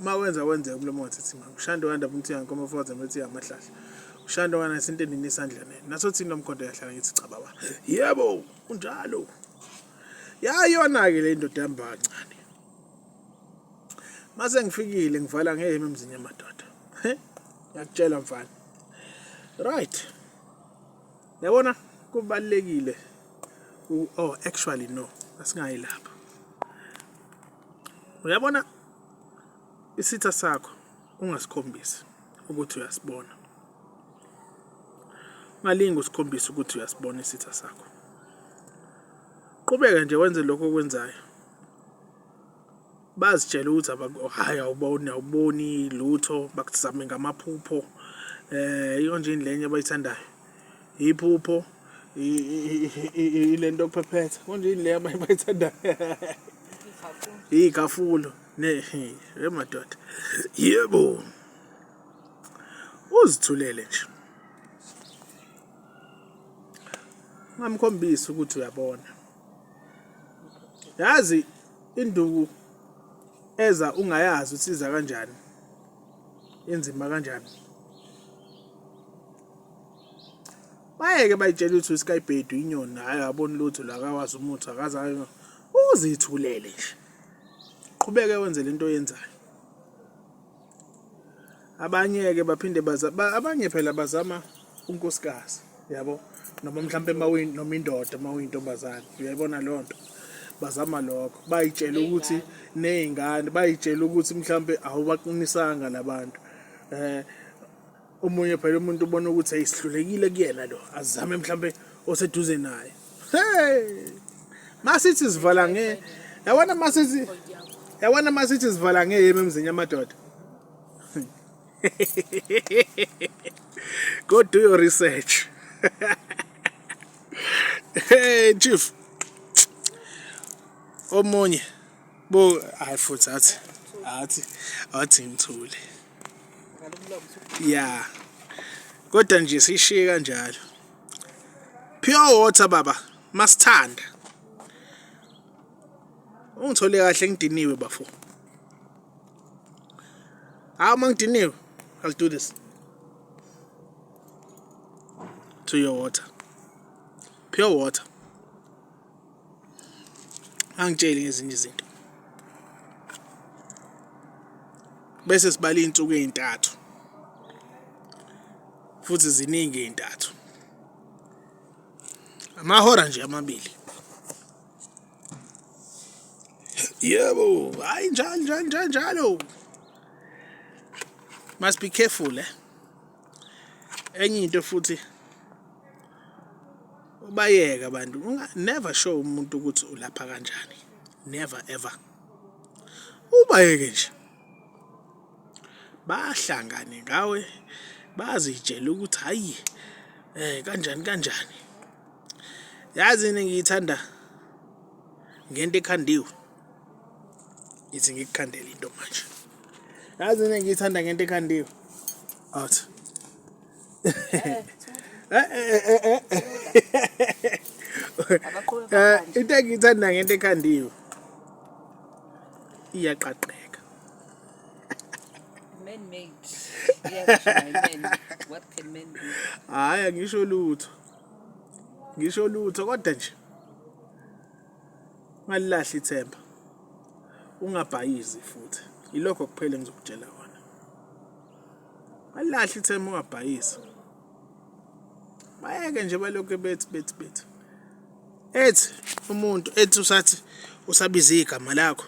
uma wenza kwenzeka umlomo wathithima ushando wanda umuntu yankomo ufoza umuntu yamahlahla ushando kana sintenini isandla nene naso thina nomkhonto yahlala ngithi cha baba yebo unjalo yayona ke le ndoda yambancane mase ngifikile ngivala ngeheme emzini yamadoda ngiyakutshela mfana right yabona kubalekile oh actually no asingayi lapha uyabona isitha sakho ungasikhombisi ukuthi uyasibona ungalingi usikhombise ukuthi uyasibona isitha sakho qhubeka nje wenze lokho okwenzayo bazitshele ukuthi hayi awuboni awuboni lutho bakuzame ngamaphupho eh iyonje indlenye abayithandayo iphupho ilento yokuphephetha konje yini le abanye bayithandayo iy'khafulo emadoda yebo uzithulele nje ngamkhombisa ukuthi uyabona yazi induku eza ungayazi usiza kanjani inzima kanjani bayeke bayitshela ukuthi uskybhedu inyoni hhayi aboni lutho la akawazi umuthi akaze uzithulele nje qhubeke wenze le nto oyenzayo abanye-ke baphinde abanye phela bazama unkosikazi yabo noma mhlawumpe noma indoda uma uyintombazane uyayibona leyo nto bazama lokho bayitshela ukuthi ney'ngane bayitshela ukuthi mhlawumpe awubaqinisanga labantu um eh, omunye phela umuntu ubona ukuthi ayisihlulekile kuyena lo azame mhlambe oseduze naye hey masithi sivala nge yabona masithi yabona masithi sivala ngeyeme emzini yamadoda go do your research hey chief omunye bo hayi futhi athi athi athi ngithule ya kodwa nje sishiye kanjalo pure water baba masithanda ungithole kahle ngidiniwe bafo hawu uma ngidiniwe i'll do this to your water pure water angitsheli ngezinye izinto bese sibala iy'nsuku ey'ntathu futhi ziningi ey'ntathu amahora nje amabili yebo hayi njalo njalo njalo njalo must be careful eh enye into futhi ubayeke abantu never show umuntu ukuthi ulapha kanjani never ever ubayeke nje bahlangane ngawe bazitshela ukuthi hayi eh kanjani kanjani yazi ngiyithanda ngento ekhandiwe ngithi ngikukhandele into manje yazi mina ngiyithanda ngento ekhandiwe out into engiyithanda ngento ekhandiwe iyaqaqeka man made what can men do hayi angisho lutho ngisho lutho kodwa nje ungalilahli ithemba ungabhayizi futhi ilokho kuphela engizokutshela kona ungalilahli ithemba ungabhayizi bayeke nje balokhu bethi bethi bethi ethi umuntu ethi usathi usabiza igama lakho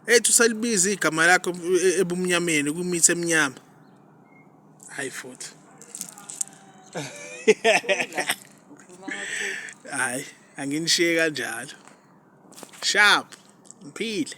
ethi usalibiza igama lakho e, ebumnyameni kumithi emnyama hayi futhi hayi anginishiye kanjalo sharp ngiphile.